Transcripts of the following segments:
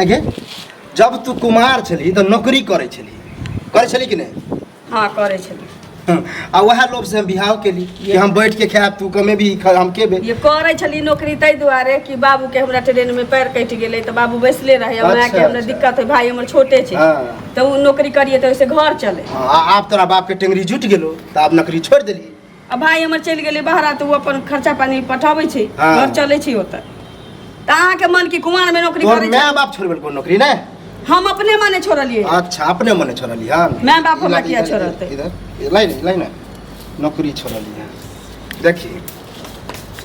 आगे जब तू कुमार छली तो नौकरी करे छली करे छली कि नहीं हाँ करे छली हम्म, आ वह लोभ से हम बिहाव के लिए कि हम बैठ के खाए तू कमे भी खा हम के बे ये करे छली नौकरी ताहि दुआरे कि बाबू के हमरा ट्रेन में पैर कट गेलै तऽ बाबू बैसले रहै हमरा अच्छा, के हमरा अच्छा। दिक्कत है भाई हमर छोटे छै हाँ। तऽ उ नौकरी करिए तऽ ओहिसे घर चले हाँ, आ- आप तोरा बाप के टेंगरी जुट गेलो तो आप नौकरी छोड़ दिली आ भाय हमर चलि गेलै बहरा तऽ ओ अपन खर्चा पानी पठाबै छै हाँ। घर चलै छै ओतऽ तऽ अहाँके मन की कुमार में नौकरी तोहर करै छै माय बाप छोड़ि देलको नौकरी ने हम अपने मने छोड़लियै अच्छा अपने मने छोड़ली हाँ माय बाप हमरा किया छोड़तै? इधर इधर, लाई नहीं लाई ना नौकरी छोड़ली है देखिए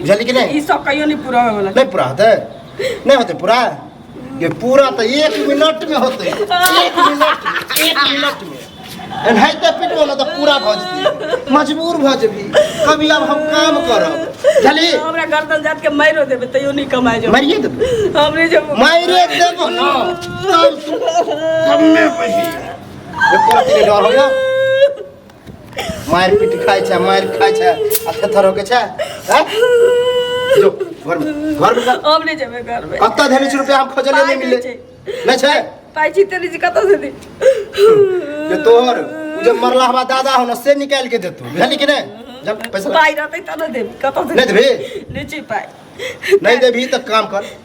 बुझलियै कि ई नहि सब कहियो नहि पूरा होय वाला नहि पूरा होतै नहि होतै पूरा ये पूरा तऽ एक मिनट में होतै एक मिनट में एक मिनट में एनाहिते पिटबो ने तऽ पूरा भऽ जेतै मजबूर भऽ जेबी कभी आब हम काम करब बुझलियै हमरा गर्दन जात के मारो देबे तैयो नहीं कमाए जो मारिए देबै हमरे जब मारिए देबो ने तब तू कमे बही एको रत्ती नहि डर होइए मार पीट खाए छे मार खाए छे आ थेथर होके छे हैं जो घर में घर में कर। अब नहीं जाबे घर में कत्ता धेने छे रुपया हम खोजले पाइ नहीं मिले दै छै। नहीं छे पाइ छी तेरी जी कतऽ से दी जे तोहर उ जे मरला हवा दादा हो ना से निकाल के देतू बुझली कि नहीं जब पैसा पाइ रहतै तब ने देब कतऽ से नहि देबही? नहि छै पाइ नहीं देबी तो काम कर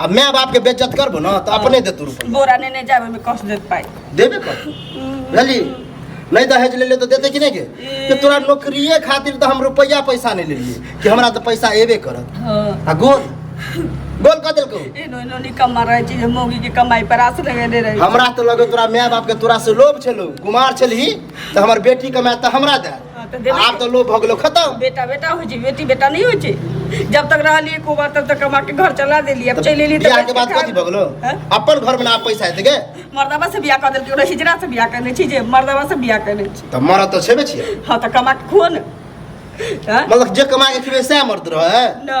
आ माय बाप के बेइज्जत करबो ना तो अपने देतू रुपया बोरा ने ने जाबे में कष्ट देत पाई देबे कर बुझली नहीं दहेज ले ले तो देते कि नहीं के कि तोरा नौकरिए खातिर तो हम रुपया पैसा नहीं लेलिए कि हमरा तो पैसा एबे करत हां आ गोल गोल कह देलको ए नो नो नि कमा रहे छी मोगी के कमाई पर आस लगे दे रहे हमरा तो लगे तोरा माय बाप के तोरा से लोभ छलो कुमार छलही तो हमर बेटी कमाए तो हमरा दे हाँ, तो देबै आब तऽ लोभ भऽ गेलो खतम बेटा बेटा होइ छै बेटी बेटा नहि होइ छै जब तक रहली एको बार तब तक कमा के घर चला देली अब चलि एली बियाह के बाद कथी भऽ गेलो हैं? अपन घर में ना पैसा हेतै गे मर्दबा से बियाह कऽ देलकै ओकरा हिजरा से बियाह करने छी जे मर्दबा से बियाह करने छी तऽ मरद तऽ छेबे छियै हाँ तो कमा के खुओ ने हाँ? मतलब जे कमा के खेबै सएह मरद रहै ना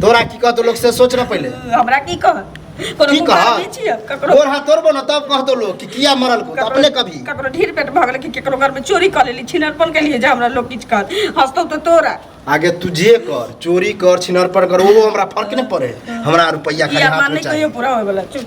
तोरा की कहतो लोग से सोच ना पहले हमरा की कह कोनो की कुमार कह भी छियै ककरो तोर हाथ तोड़बो ना तब कहतो लोग कि किया मरल को अपने कभी ककरो ढीर पेट भऽ गेलै कि ककरो घर में चोरी कऽ लेली छिनरपन केलियै जे हमरा लोग किछु कहत हंसतौ तऽ तोरा आगे तू जे कर चोरी कर छिनरपन कर वो हमरा फर्क नहीं पड़े हमरा रुपया खाली किया हाथ मार में नहीं चाहिए कहियो पूरा होय वाला चुप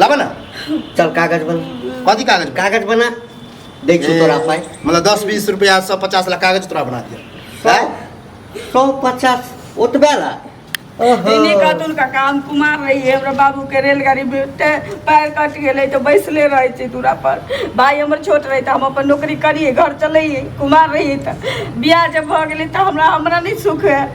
लाबा ना चल कागज बना कथी कागज बा? कागज बना देख छू तोरा पाई मतलब दस बीस रुपया सौ पचास लाख कागज तोरा बना दिया सौ हैं? सौ पचास ओतबे ला इन्हीं कतुल का काम कुमार रही है हमरा बाबू के रेलगाड़ी में ते पैर कट गेले तो बैसले रहे छी दूरा पर भाई हमर छोट रहे तो हम अपन नौकरी करिए घर चलिए कुमार रही तो बियाह जब भऽ गेलै तऽ हमरा हमरा नहि सुख है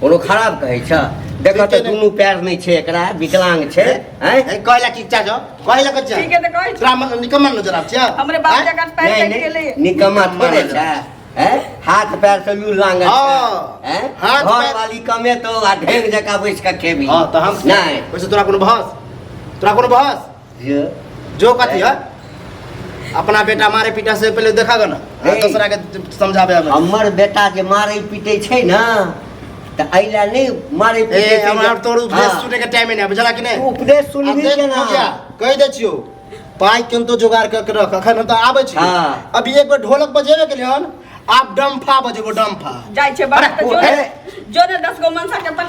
कोनो खराब कहै छ देखो तो दोनों पैर नहीं छे एकरा विकलांग छे हैं ए कहला कि चा जो कहला कि चा ठीक है तो कहै छ राम निकम्मा नजर आब छ हमरे बाप जगह पैर कट गेले निकम्मा थोड़े छ हैं हाथ पैर से लू लांग हां हैं हाथ पैर वाली कमे तो आ ढेंग जका बैठ के खेबी हां तो हम नहीं वैसे तोरा कोनो बहस तोरा कोनो बहस ये जो कथी है अपना बेटा मारे पीटा से पहले देखा गो ना आ ए। दूसरा के समझावे हमें हमर बेटा जे मारै पीटै छै ने तऽ एहि लए नहि मारै ए पीटै छै हमरा जे- तोर उपदेश हाँ। सुने के टाइम नहीं है बुझला कि नहीं उपदेश आ सुनबी देख केना पूजा, कहि दै छियौ पाइ केनतो जोगाड़ कऽ के रख अखन हम तऽ आबै छी हाँ। अभी एक बेर ढोलक बजेबे केलियै हन आब डम्फा बजेबो डम्फा जाइ छै बाहर अरे, तऽ ओ, जो ने- जो ने दस गो मनसा के पठा